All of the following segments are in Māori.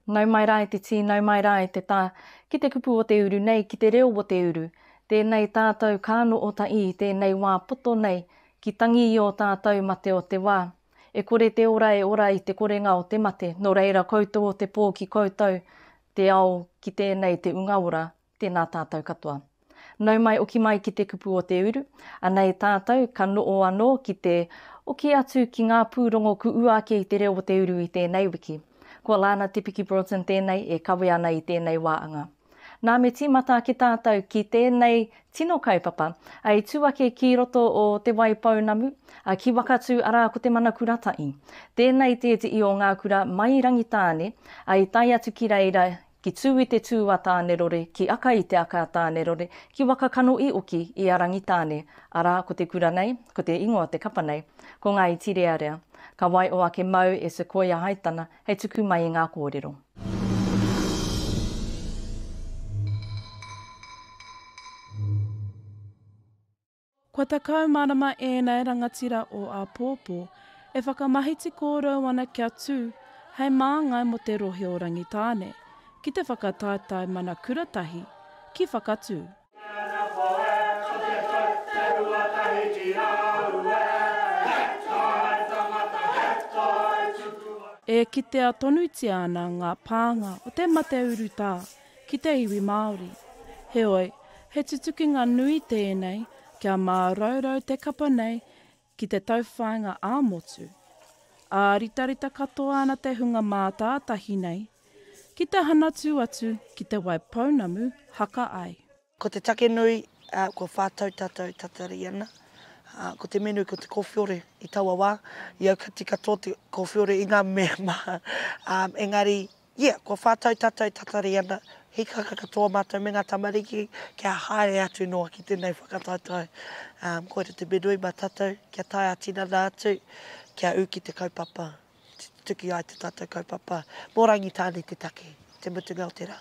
Nau mai rā e te tī, nau mai rā e te tā, ki te kupu o te uru nei, ki te reo o te uru. Tēnei tātou kāno o Taʻi i tēnei wā poto nei, ki tangi i ō tātou mate o te wā. E kore te ora e ora i te korenga o te mate, nō reira koutou o te pō ki koutou te ao ki tēnei te unga ora. Tēnā tātou katoa. Nau mai oki mai ki te kupu o te uru, anei tātou ka noo anō ki te oki atu ki ngā pūrongo kuua ake i te reo o te uru i tēnei wiki. Ko Lana Te Piki Broughton tēnei e kawe ana i tēnei wā anga. Nā me tīmata ake tātou ki tēnei tino kaupapa i tū ake ki roto o Te Waipounamu, ki Wakatū arā ko Te Mana Kuratahi. Tēnei tētehi o ngā kura mai Rangitāne i tae atu ki reira ki tū i te tū a Tānerore, ki aka i te aka a Tānerore, ki waka kano i oki i a Rangitāne, arā, ko te kura nei, ko te ingoa o te kapa nei, ko Ngāi Tirearea. Ka waio ake māu e Sequoia Haitana hei tuku mai i ngā kōrero. Kua takau marama ēnei rangatira o āpōpō e whakamahiti kōrou ana kia tū hei māngai mō te rohe o Rangitāne ki te whakataetae mana kura tahi ki Whakatū. E kitea tonutia ana ngā pānga o te mate urutā ki te iwi Māori. Heoi, he tutukinga nui tēnei kia māraurau te kapa nei ki te tauwhāinga ā-motu. Āritarita katoa ana te hunga mātātahi nei, ki te hanatū atu ki Te Wai Pounamu haka ai. Ko te take nui, kua whā tau tātou tatari ana. Ko te menu, ko te kōwhiore i taua wā. I au ka tika tō te kōwhiore i ngā mea maha. Engari, yeah, kua whā tau tātou tatari ana. Hīkaka katoa mātou me ngā tamariki kia haere atu noa ki tēnei whakataetae. Koira te menu i mātātou, kia tae ā-tinana atu, kia ū ki te kaupapa, tutuki ai te tātou kaupapa. Mō Rangitāne te take, te mutunga o te rā.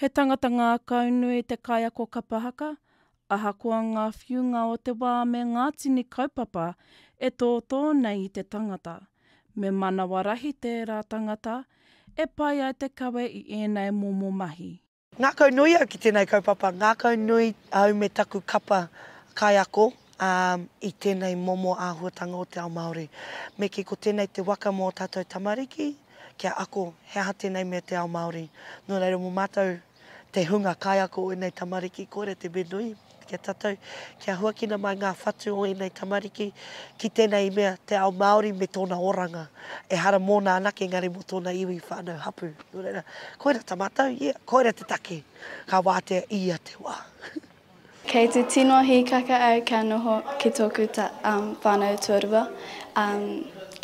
He tangata ngākau nui te kaiako kapa haka, ahakoa ngā whiunga o te wā me ngā tini kaupapa e tōtō nei i te tangata. Me manawa rahi tērā tangata e pai ai te kawe i ēnei momo mahi. Ngākau nui au ki tēnei kaupapa, ngākau nui au me taku kapa kaiako i tēnei momo āhuatanga o te ao Māori. Me kī, ko tēnei te waka mō tātou tamariki, kia ako he aha tēnei me te ao Māori. Nō reira mō mātou te hunga kaiako o ēnei tamariki kore te me nui ki a tātou kia huakina mai ngā whatu o ēnei tamariki ki tēnei mea te ao Māori me tōna oranga ehara mōna anake engari mō tōna iwi whānau hapū. Nō reira, koira ta mātou, yeah, koira te take ka wātea i ia te wā. Kei te tino hīkaka au kia noho ki tōku whānau tuarua,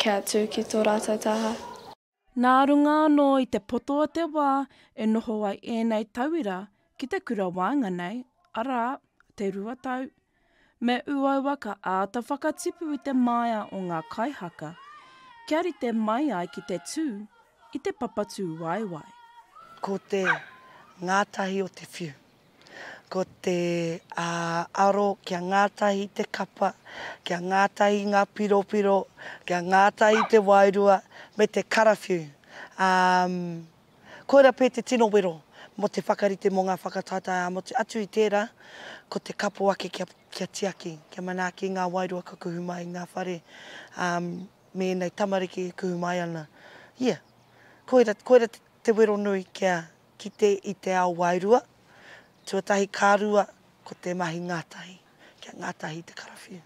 kia tū ki tō rātou taha. Nā runga anō i te poto o te wā e noho ai ēnei tauira ki te kura waenga nei, arā, te rua tau, me uaua ka āta whakatipu i te māia o ngā kaihaka, kia rite mai ai ki te tū, i te papatūwaewae. Ko te ngātahi o te whiu. Ko te aro kia ngātahi te kapa, kia ngātahi ngā piropiro, kia ngātahi te wairua me te karawhiu. Koira pea te tino wero mō te whakarite mō ngā whakataetae ā-motu. Atu i tērā, ko te kapo ake kia tiaki, kia manaaki ngā wairua ka kuhu mai i ngā whare. me ēnei tamariki e kuhu mai ana, ia, koira, koira te wero nui kia kite i te ao wairua, tuatahi ka rua, ko te mahi ngātahi, kia ngātahi te karawhiu.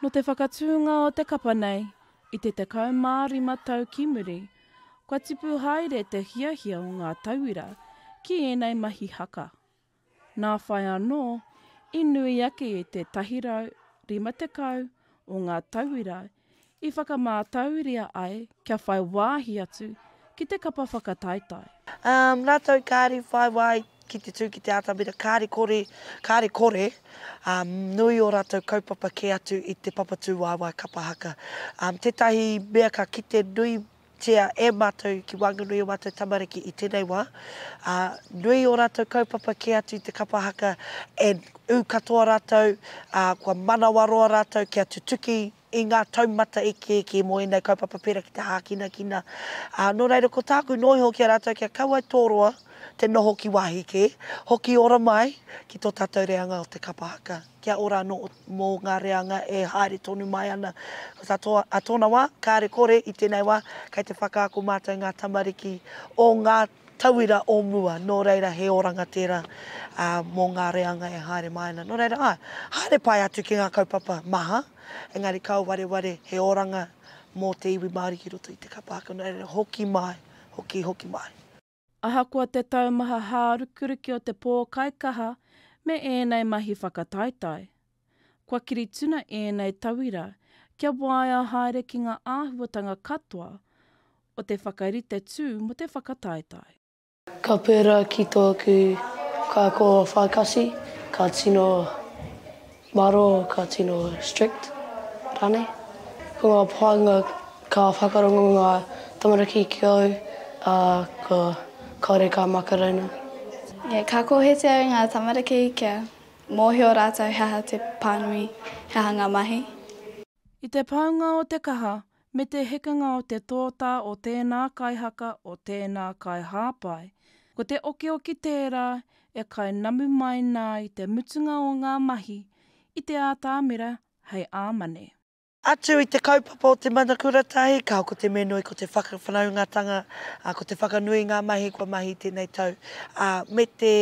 Nō te whakatūnga o te kapa nei, i te 15 tau ki muri, kua tipu haere te hiahia o ngā tauira ki ēnei mahi haka. Nā whai anō, i nui ake i te 150 o ngā tauira i whakamātauria ai kia whai wāhi atu ki te kapa whakataetae. Ā rātou kāri whai wāhi ki te tū ki te atamira, kāri kore, kāri kore, ā, nui ō rātou kaupapa kē atu i te papatūwaewae kapa haka. Ā, tētahi mea ka kite nui Tia e matou ki wanganui o matou tamariki i tenei wa, a nui o ratou kaupapa kē atu i te kapa haka and u katoa ratou, a kua manawaroa ratou kia tutuki i nga taumata ikiiki mo enei kaupapa pera ki te hākinakina. A no reira ko tāku noho iho ki a ratou kia kau ai tō roa te noho ki wahi kē, hoki ora mai ki to tatou reanga o te kapa haka. kia ora anō mō ngā reanga e haere tonu mai ana katoa ā tōna wā, kāre kore i tēnei wā kei te whakaako mātou ngā tamariki o ngā tauira o mua, nō reira he oranga tērā mō ngā reanga e haere mai ana. Nō reira, āe, haere pai atu ki ngā kaupapa maha, engari kāo wareware he oranga mō te iwi Māori ki roto i te kapa ake, nō reira, hoki mai, hoki, hoki mai. Ahakoa te taumaha hārukiruki o te pōkaikaha me ēnei mahi whakataetae, kua kiri tuna ēnei tauira kia waea haere ki ngā āhuatanga katoa o te whakarite tū mō te whakataetae. Ka pērā ki tōku kākō whakasi, ka tino. Maro ka tino strict ranei. Ko nga painga ka whakarongo nga tamariki ki au a ko kaore ka makaraina. Yeah ka kohete au nga tamariki kia mohio ratou he aha te panui he aha nga mahi. I te paunga o te kaha me te hekenga o te tōtā o tēnā kaihaka, o tēnā kaihāpai, ko te okioki tērā e kai namu mai nā i te mutunga o ngā mahi i te ātamira hei āmane. Atu i te kaupapa o te mana kura tahi, ka hoko te menoi ko te whakawhanaungatanga, ko te whakanui i ngā mahi kua mahi i tēnei tau, ā, me te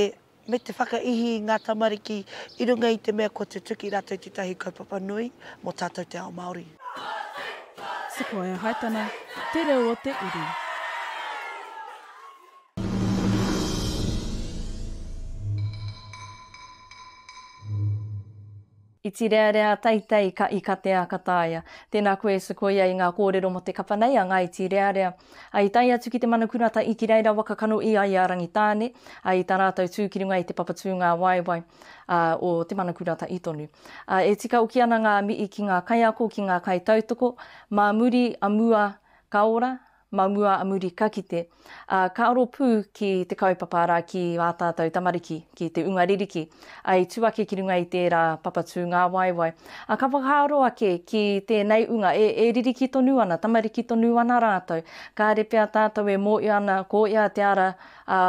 me te whakaihi i ngā tamariki i runga i te mea kua tutuki rātou i tētahi kaupapa nui mō tātou te ao Māori. Sequoia Haitana, Te Reo o te Uru. Iti rearea teitei ka ika te a ka taea. Tēnā koe e sekoia i ngā kōrero mō te kapa nei a Ngā Iti Rearea. I tae atu ki te mana kurata i ki reira waka kano ia i a Rangitāne, ā, i tā rātou tū ki runga i te papa tūngāwaewae, ā, o te mana kurata i tonu. Ā, e tika oki ana ngā mihi ki ngā kaiako, ki ngā kaitautoko, mā muri a mua ka ora, Mau mua a muri ka kite, ā, ka aro pū ki te kaupapa arā ki ā tātou tamariki, ki te unga ririki, ā, i tū ake ki runga i tērā papa tūngāwaewae. Ā, ka whakaaro ake ki tēnei unga, e, e ririki tonu ana, tamariki tonu ana rātou, kāre pea tātou e mōhio ana ko ia te ara, Ā,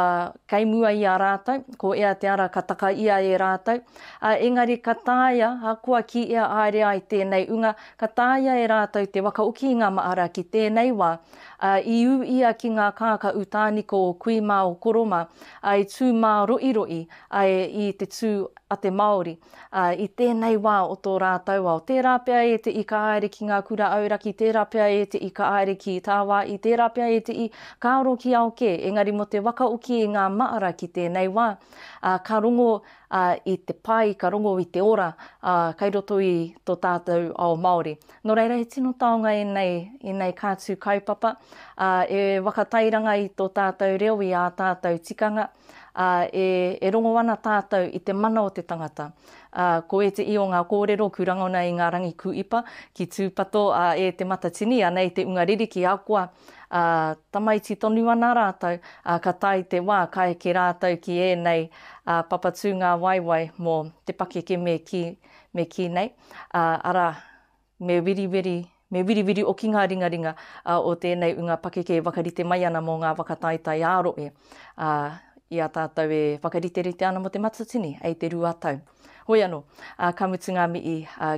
kei mua i a rātou, ko ea te ara ka taka ia e rātou, ā, engari ka taea, ahakoa ki ea aere ai tēnei unga, ka taea e rātou te wakaoki i ngā mahara ki tēnei wā, ā, i ū ia ki ngā kākā utāniko o kui mā o koro mā, ā, i tū mā roiroī, ā, i te tū a te Māori. uh, i tēnei wā o tō rātou ao. Tērā pea e te i ka aere ki ngā kura auraki, tērā pea e te i ka aere ki Tāwāi, tērā pea e te i ka aro ki ao kē. Engari mō te waka oki i ngā maara ki tēnei wā, uh, ka rongo uh, i te pai, ka rongo i te ora uh, kai roto i tō tātou ao Māori. Nō reira, he tino taonga ēnei, ēnei kātū kaupapa uh, e wakatairanga i tō tātou reo, i ā tātou tikanga, ā, e, e rongo ana tātou i te mana o te tangata. Ā, ko ētehi o ngā kōrero ku rangona i ngā rangi kūipa, ki Tūpato, ā, e Te Matatini, anei te unga riri ki Akoa, ā, tamaiti tonu ana rātou, ā, ka tae te wā, ka eke rātou ki ēnei, ā, papa tūngawaewae mō te pakeke me kī, me kī nei, ā, arā, Me wiriwiri, me wiriwiri oki ngā ringaringa o tēnei unga pakeke e wakarite mai ana mō ngā waka taetae ā-roe, ā, i a tātou e whakariterite ana mō te matatini, hei te rua tau. Hoi anō, ā, ka mutu ngā mihi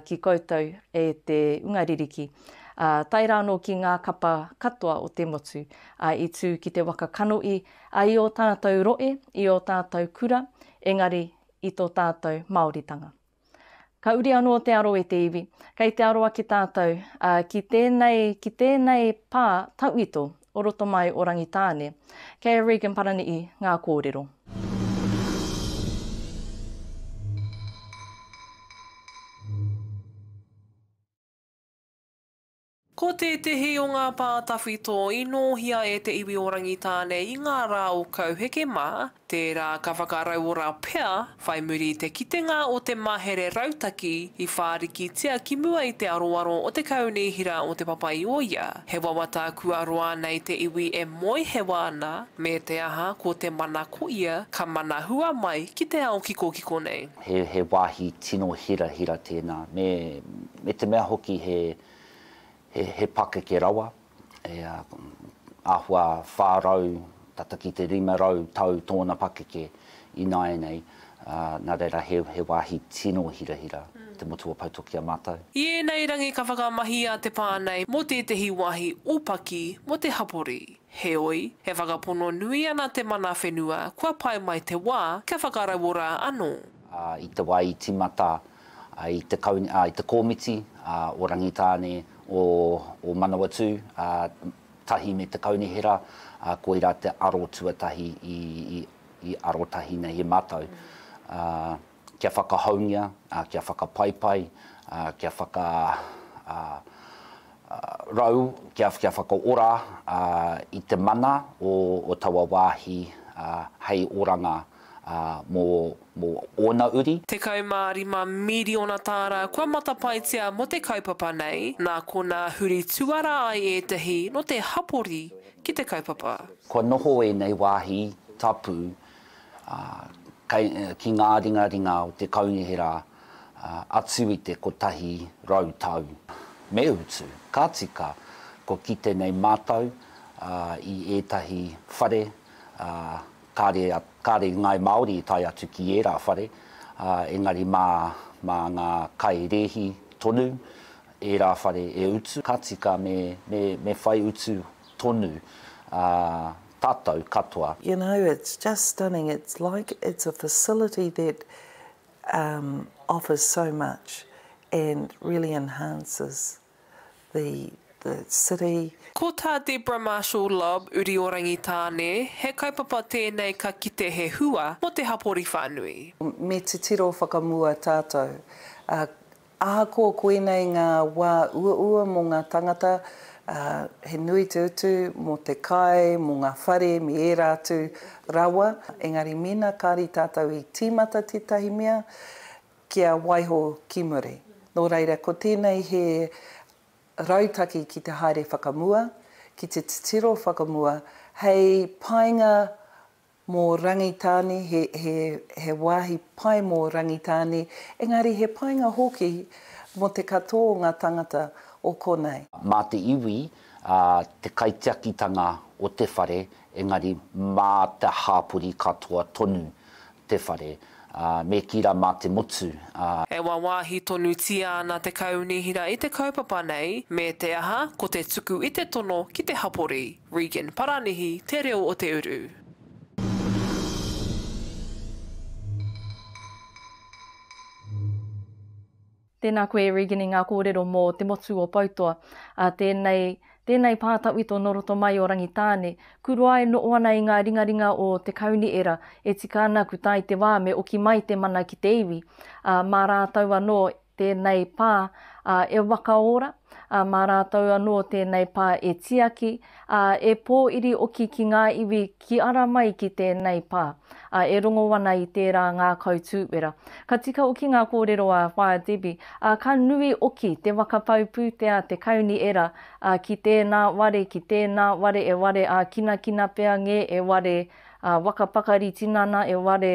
ki koutou e te unga ririki, ā, tae rā anō ki ngā kapa katoa o te motu, ā, i tū ki te waka kanohi, ā, i ō tātou roe, i ō tātou kura, engari i tō tātou Māoritanga. Ka uri anō te aro e te iwi. Kei te aroa ki tātou, ā, ki tēnei, ki tēnei pā tauito o roto mai o Rangitāne. Kei a Regan Parani'i ngā kōrero. Ko tētehi o ngā pā tawhito i nōhia e te iwi o Rangitāne i ngā rā o Kauheke mā, tērā ka whakarauora pea, whai muri i te kitenga o te mahere rautaki i whārikitia ki mua i te aroaro o te Kaunihera o Te Papaioia, he wawata kua roa nei te iwi e moehewa ana, me te aha ko te mana ko ia ka mana hua mai ki te ao kikokiko nei. He wāhi tino hirahira tēnā, me me te mea hoki he he pakeke rawa, e āhua 400 tata ki te 500 tau tōna pakeke ināianei, ā, nā reira he he wāhi tino hirahira te motu o Poutoki a mātou. I ēnei rangi ka whakamahia te pā nei mō tētehi wāhi ōpaki mō te hapori. Heoi, e whakapono nui ana te mana whenua kua pae mai te wā kia whakarauora anō. Ā, i te wā i tīmata i te kau, i te komiti, o Rangitāne, o Manawatū, tahi me te Kaunihera, koirā te aro tuatahi i arotahi nei e mātou, kia whakahoungia, kia whakapaipai, kia whaka rau, kia whakaora i te mana o taua wāhi hei oranga mō. mō ōna uri. 15 miriona tāra kua matapaetia mō te kaupapa nei, nā konā huri tuara ai ētahi nō te hapori ki te kaupapa. Kua noho ēnei wāhi tapu ki ngā ringaringa o te kaunihera atu i te 100 tau. Me utu, ka tika, kua kite nei mātou i ētahi whare Kāre, kāre i ngāi Māori i tae atu ki ērā whare, ā, engari mā, mā ngā kai rēhi tonu ērā whare e utu, ka tika me, me, me whai utu tonu, ā, tātou katoa. You know, it's just stunning, it's like it's a facility that um, offers so much and really enhances the the city. Ko tā Deborah Marshall Lobb uri o Rangitāne, he kaupapa tēnei ka kite he hua mō te hapori whānui. Me titiro whakamua tātou. Ā, ahakoa koinei ngā wā uaua mō ngā tāngata, ā, he nui te utu mō te kai, mō ngā whare me ērā atu rawa, engari mēnā kāri tātou i tīmata tētahi mea, Kia waiho ki muri. Nō reira, ko tēnei he rautaki ki te haere whakamua, ki te titiro whakamua, hei painga mō Rangitāne, he wāhi pai mō Rangitāne, engari he painga hoki mō te katoa o ngā tāngata o konei. Mā te iwi, te kaitiakitanga o te whare Engari mā te hāpori katoa tonu te whare, ā, me kī rā mā te motu, ā. E wāwāhi tonutia ana te Kaunihera i te kaupapa nei, me te aha, ko te tuku i te tono ki te hapori. Regan Paranihi, Te Reo o Te Uru. Tēnā koe Regini ngā kōrero mō te motu o Poutoa, ā tēnei, tēnei pā tawhito nō roto mai o Rangitāne, kuroa e noʻo ana i ngā ringaringa o Te Kauniera, e tika ana ku tae te wā me oki mai te mana ki te iwi, ā, mā rātou anō tēnei pā, ā, e waka ora, ā, mā rātou anō tēnei pā e tiaki, ā, e pō-iri-oki ki ngā iwi ki ara mai ki tēnei pā, ā, e rongo ana i tērā ngā kautūwera. Ka tika oki ngā kōrero a Whaea Debbie, ā, ka nui oki te waka pau pūtea, te kauni era, ā, ki tēnā ware, ki tēnā ware e ware ā-kinakina pea ngē, e ware waka pakari tinana, e ware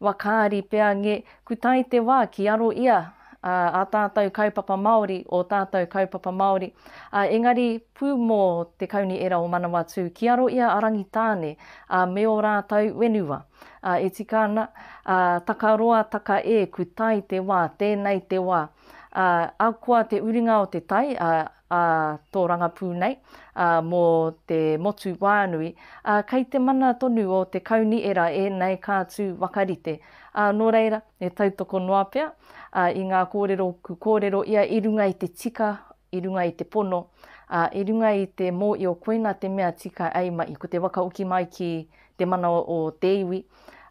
wakaari pea ngē, kutai te wā ki aro ia, ā tātou kaupapa Māori, ō tātou kaupapa Māori, ā, engari pū mō te Kaunihera o Manawatū ki aro i a Rangitāne, ā, me ō rātou whenua. Ā, e tika ana, ā, taka roa, taka e, ku tai te wā, tēnei te wā. Ā, ahakoa te uringa o te tai, ā, a Tōrangapū nei, ā, mō te motu wānui, ā, kei te mana tonu o te Kauniera ēnei kātū wakarite, ā, nō reira, e tautoko noa pea, ā, i ngā kōrero ku kōrero ia i runga i te tika, i runga i te pono, ā, i runga i te mōio koina te mea tika ei mahi, ko te wakahoki mai ki te mana o te iwi,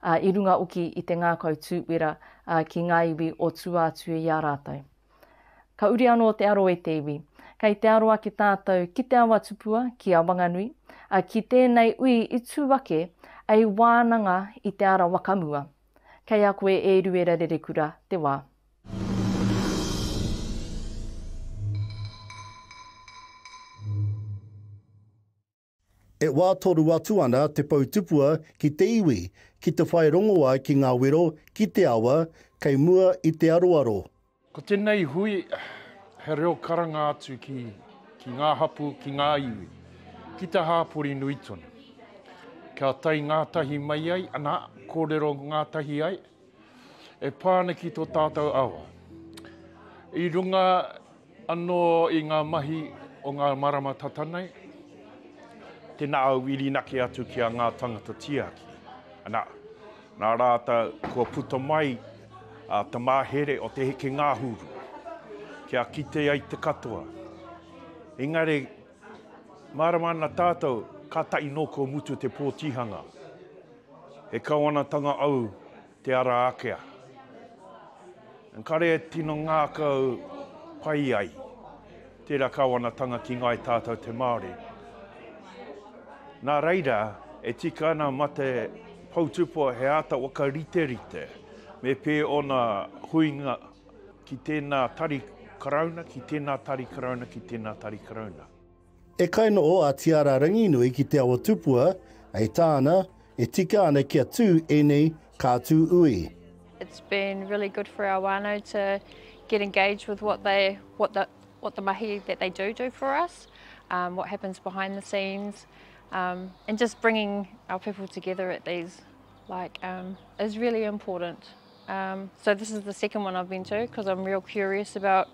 ā, i runga hoki i te ngākau tūwera, ā, ki ngā iwi o tua atu i a rātou. Ka uri anō te aro e te iwi. Kei te aro ake tātou ki te awa tupua, ki a Wanganui, ā, ki tēnei ui i tū ake, ei wānanga i te ara wakamua. Kei a koe e Eruera Rerekura te wā. E wā toru atu ana te pou tupua ki te iwi, ki te whai rongoā ki ngā wero, ki te awa, kei mua i te aroaro. Ko tēnei hui, he reo karanga atu ki, ki ngā hapū, ki ngā iwi, ki te hāpori nui tonu. Kia tae ngātahi mai ai, anā, kōrero ngātahi ai. e pā ana ki tō tātou awa. I runga anō i ngā mahi o ngā marama tata nei, tēnā au i rinake atu ki a ngā tangata tiaki. Anā, nā rātou kua puta mai a te mahere o te heke ngahuru, kia kite ai te katoa. Engari, Mārama ana tātou, kātahi nō kua mutu te pōtihanga. He Kawanatanga au te ara ākea. Engari e tino ngākau pai ai tērā Kawanatanga ki ngai tātou te Māori. Nā reira, e tika ana mā te poutupua he āta whakariterite me pē ōna huinga, Ki tēnā Tari Karauna, ki tēnā Tari Karauna, ki tēnā Tari Karauna. E kainoo a Tiara Ranginui ki Te Awa Tupua, e taana, e tika ana kia tu enei kaatu ui. It's been really good for our whānau to get engaged with what they, what the, what the mahi that they do do for us, um, what happens behind the scenes, um, and just bringing our people together at these, like, um, is really important. Um, so this is the second one I've been to because I'm real curious about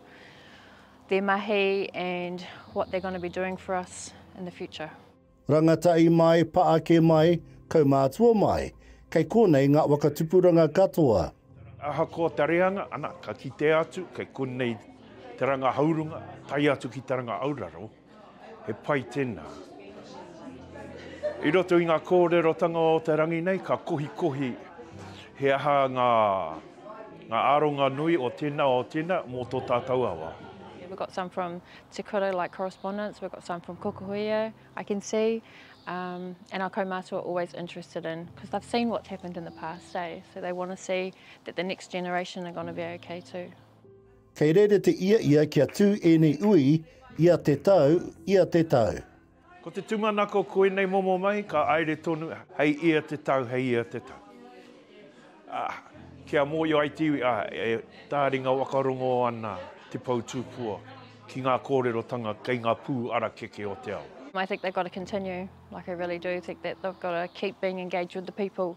their mahi and what they're going to be doing for us in the future. Rangatai mai, paake mai, kaumātua mai, kei konei ngā wakatupuranga katoa. Ahakoa te reanga, ana, ka kitea atu, kei konei te ranga haurunga, tae atu ki te ranga auraro. He pai tēnā. I roto i ngā kōrerotanga o te rangi nei, ka kohikohi he aha ngā, ngā aronga nui o tēnā, o tēnā, mō tō tātou awa. Yeah, we've got some from Te Kura, like correspondence, we've got some from Kokohuia, I can see, um, and our kaumātua are always interested in, because they've seen what's happened in the past, eh? So they want to see that the next generation are going to be okay too. Kei rērete ia ia kia tū ēnei ui ia te tau, ia te tau. Ko te tumanako koinei momo mai ka aere tonu hei ia te tau, hei ia te tau. Ah, ki a Moio ai te iwi, ah, e tāringa wakarongo ana te pou tūpua ki ngā kōrerotanga kei ngā pū arakeke o te ao. I think they've got to continue, like I really do think that they've got to keep being engaged with the people,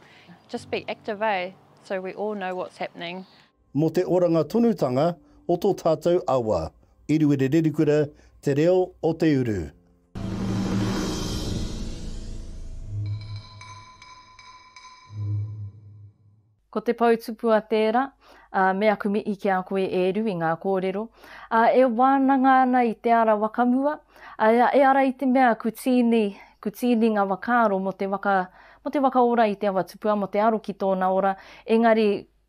just be active, eh, so we all know what's happening. Mō te oranga tonutanga o tō tātou awa. Iriwiri Rerikura Te Reo o te Uru. Ko te pou tupua tēra, ā, me aku mihi ki a koe e Eru i ngā kōrero, ā, e wānanga ana i te ara wakamua, ā, e ara i te mea ku tīni, ku tīni ngā wakaaro mō te waka, mō te waka ora i te awa tupua, mō te aro ki tōna ora, engari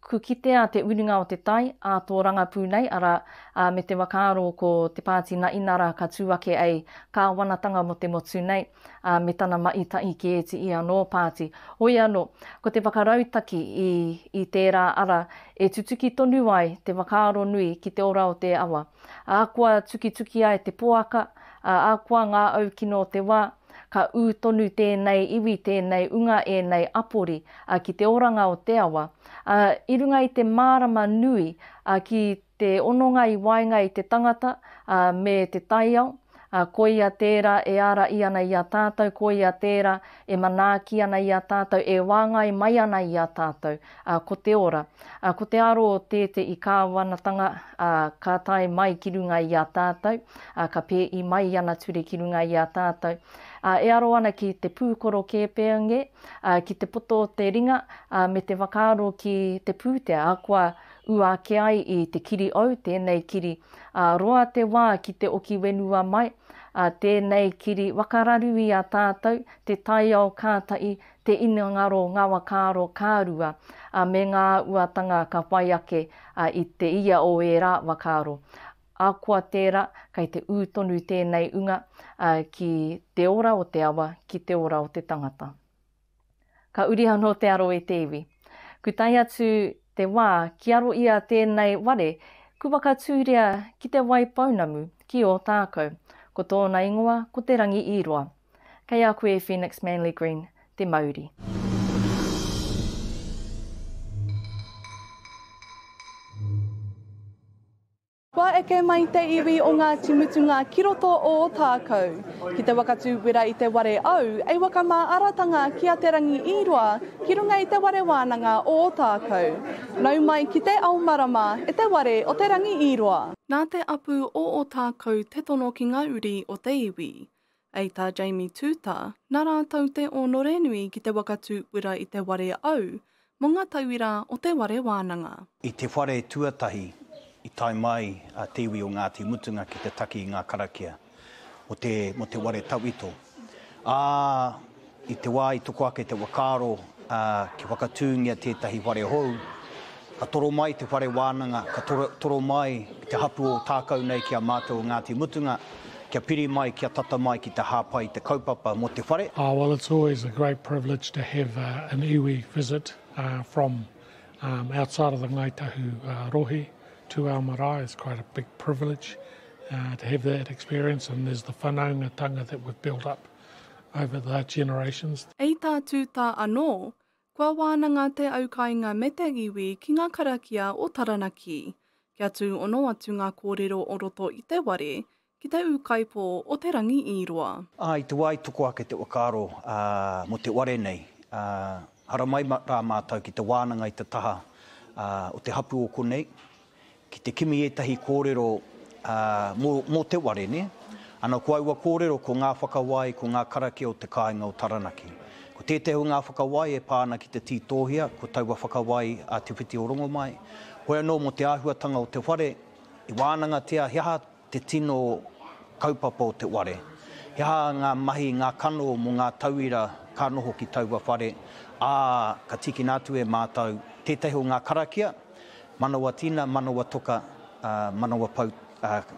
Ko kitea te uringa o te tai, a tō rangapū nei, arā, a me te whakaaro ko te pāti na inara ka tū ake ei Kāwanatanga mo te motu nei, a me tana maʻi taʻi ki ēti i anō pāti. Hoi anō, ko te whakarautaki i i tērā ara e tutuki tonu ai te whakaaro nui ki te ora o te awa. Ahakoa tukituki ai te poaka, a ahakoa ngā au kino o te wā, Ka ū tonu tēnei iwi, tēnei unga, ēnei apori ki te oranga o te awa, ā, i runga i te mārama nui ki te hononga i waenga i te tangata me te taiao, ā, koia tērā e āraī ana i a tātou, koia tērā e manaaki ana i a tātou, e wāngai mai ana i a tātou. ā, ko te ora, ā, ko te aro o te te i Kāwanatanga, ā, ka tae mai ki runga i a tātou, ā, ka pē i mai ana ture ki runga i a tātou, ā, e aro ana ki te pūkoro kēpēnge, ā, ki te poto o te ringa, ā, me te whakaaro ki te pūtea, ā, kua ua ake ai i te kiri ou tēnei kiri, ā, roa te wā ki te oki wenua mai, ā, tēnei kiri waka raru i a tātou, te taiao kātahi, te inengaro ngawakaro ka rua, a me nga uatanga ka whai ake a i te ia o e ra wakaro. Akoa tera, kei te u tonu tenei unga a ki te ora o te awa, ki te ora o te tangata. Ka uri ano te aro e te iwi. Ku tae atu te wa ki aro ia tenei ware, ku wakaturia ki te wai pounamu, ki Otakau. Ko tona ingoa ko Te Rangi-i-roa. Kei a koe e Phoenix Manly Green te mauri. Kua eke mai te iwi o Ngāti Mutunga ki roto o Ōtākou. Ki te waka tū wera i te ware au, ei waka mā aratanga ki a Te Rangi i roa ki runga i te ware wānanga o Ōtākou. Nau mai ki te ao marama e te ware o Te Rangi i roa. Nā te apu o Ōtākou te tono ki ngā uri o te iwi. Ei tā Jamie Tūtā, nā rātou te ōnorenui ki te waka tūpura i te ware au mō ngā tauira o te ware wānanga. I te whare tuatahi i tae mai a te iwi o Ngāti Mutunga ki te taki i ngā karakia mō te ware tawhito, ā, I te wā i toko ake te whakaaro kia whakatūngia tētahi whare hou, ka toro mai te whare wānanga, ka toro mai te hapū o Ōtākou nei ki a mātou o Ngāti Mutunga, kia piri mai, kia tata mai ki te hāpai i te kaupapa mō te whare. Oh well it's always a great privilege to have an iwi visit from outside of the Ngāi Tahu rohe to our marae, it's quite a big privilege to have that experience and there's the whanaungatanga that we've built up over the generations. I tā Tūtā anō, kua wānanga te aukāinga me te iwi ki ngā karakia o Taranaki, kia tūono atu ngā kōrero o roto i te ware ki te ūkaipō o Te Rangi-i-roa. I te wā i toko ake te whakaaro mō te ware nei, haramai rā mātou ki te wānanga i te taha o te hapū o konei, Ki te kimi ētahi kōrero mō te ware, nē? Ana ko aua kōrero ko ngā whakawai, ko ngā karakia o te kāinga o Taranaki. Ko tētahi o ngā whakawai e pā ana ki te tītōhia, ko taua whakawai a Te Whiti o Rongomai, hoi anō mō te āhuatanga o te whare, i wānangatia he aha Te tino kaupapa o te ware. He aha ngā mahi, ngā kano mō ngā tauira ka noho ki taua whare, ā, ka tīkina atu e mātou tētahi o ngā karakia, manawa tina, manawa toka, manawa pau,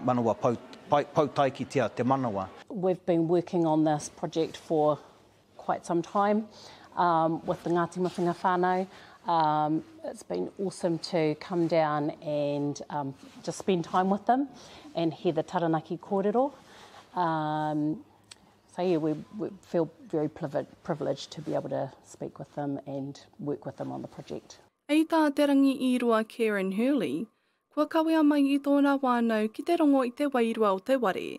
manawa pau, pau taikitia te manawa. We've been working on this project for quite some time um, with the Ngāti Mutunga whānau. Um, it's been awesome to come down and um, just spend time with them and hear the Taranaki kōrero. Um, so yeah, we, we feel very privileged to be able to speak with them and work with them on the project. Hei tā Te Rangi Īroa Karen Hurley, kua kawea mai i tōna wānau ki te rongo i te wairua o te ware,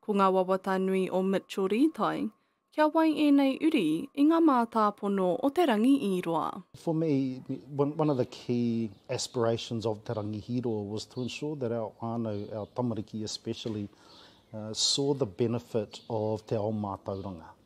Ko ngā wawata nui o Mitchell Rītai, kia wai ēnei uri i ngā mātāpono o Te Rangi i roa. For me, one of the key aspirations of Te Rangi i roa was to ensure that our whānau, our tamariki especially, saw the benefit of te ao mātauranga.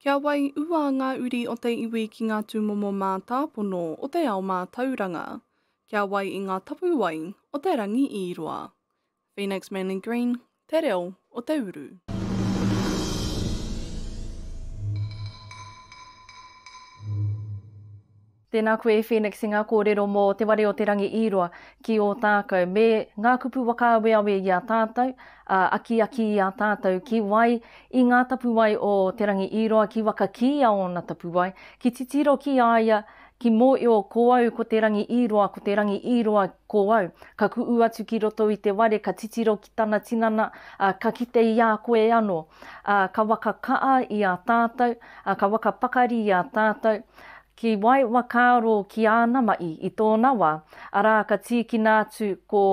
Kia wai ua ngā uri o te iwi ki ngā tūmomo mātāpono o te ao mātauranga. Kia wai i ngā tapuwae o te rangi i roa. Phoenix Manly Green, Te Reo o te Uru. Tēnā koe e Phoenix i ngā kōrero mō Te Ware o te Rangi Īroa ki Ōtākou me ngā kupu whakaaweawe i a tātou, ā, akiaki i a tātou ki wai i ngā tapuwae o Te Rangi Īroa, ki waka kī a ōna tapuwae, ki titiro ki a ia, ki mōio ko au ko Te Rangi Īroa, ko Te Rangi Īroa ko au. Ka kuʻu atu ki roto i te ware ka titiro ki tana tinana, ā, ka kite i a koe anō, ā, ka waka kaʻa i a tātou, ā, ka waka pakari i a tātou, Ki wai wakaaro ki āna maʻi i tōna wā, arā ka tīkina atu ko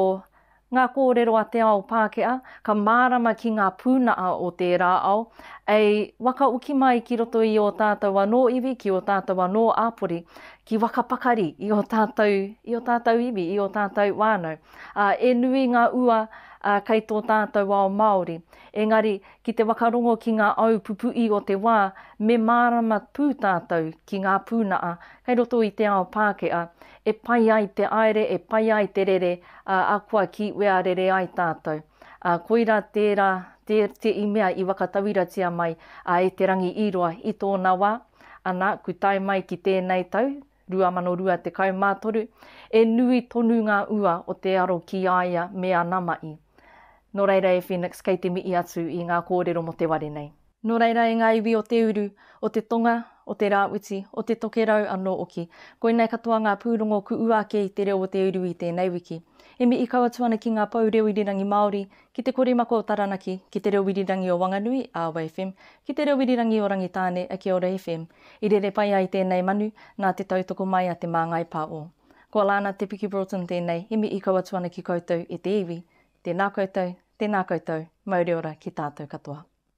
Ngā kōrero a te ao Pākehā, ka mārama ki ngā pūnaha o tērā ao, ei wakaoki mai ki roto i ō tātou anō iwi, ki ō tātou anō āpori, ki waka pakari i ō tātou, i ō tātou iwi, i ō tātou whānau. Ā, e nui ngā ua kei tō tātou ao Māori, engari Ki te whakarongo ki ngā au pupuʻi o te wā, me mārama pū tātou ki ngā pūnaha kei roto i te ao Pākehā, e pai ai te aere, e pai ai te rere, ā, akoa ki wea rere ai tātou. Ā, koirā tērā, tē, te i mea i whakatauiratia mai, ā, e Te Rangi-i-roa i tōna wā, ana, ku tae mai ki tēnei tau, 2023, e nui tonu ngā ua o te aro ki a ia me ana maʻi. Nō reira e Phoenix kei te mihi atu i ngā kōrero mō te ware nei. Nō reira e ngā iwi o te uru, o te tonga, o te rāwhiti, o te tokerau anō oki, koinei katoa ngā pūrongo ku ua ake i te reo o te uru i tēnei wiki. E mihi kau atu ana ki ngā pou reo irirangi Māori Ki te korimako o Taranaki, ki te reo irirangi o Wanganui, Awa FM, ki te reo irirangi o Rangitāne, Kia Ora FM, i rere pai ai tēnei manu nā te tautoko mai a Te Māngai Pā o. Ko Alana Te Piki Broughton tēnei, he mihi kau atu ana ki koutou e te iwi, tēnā koutou, tēnā koutou, mauri ora ki tātou katoa.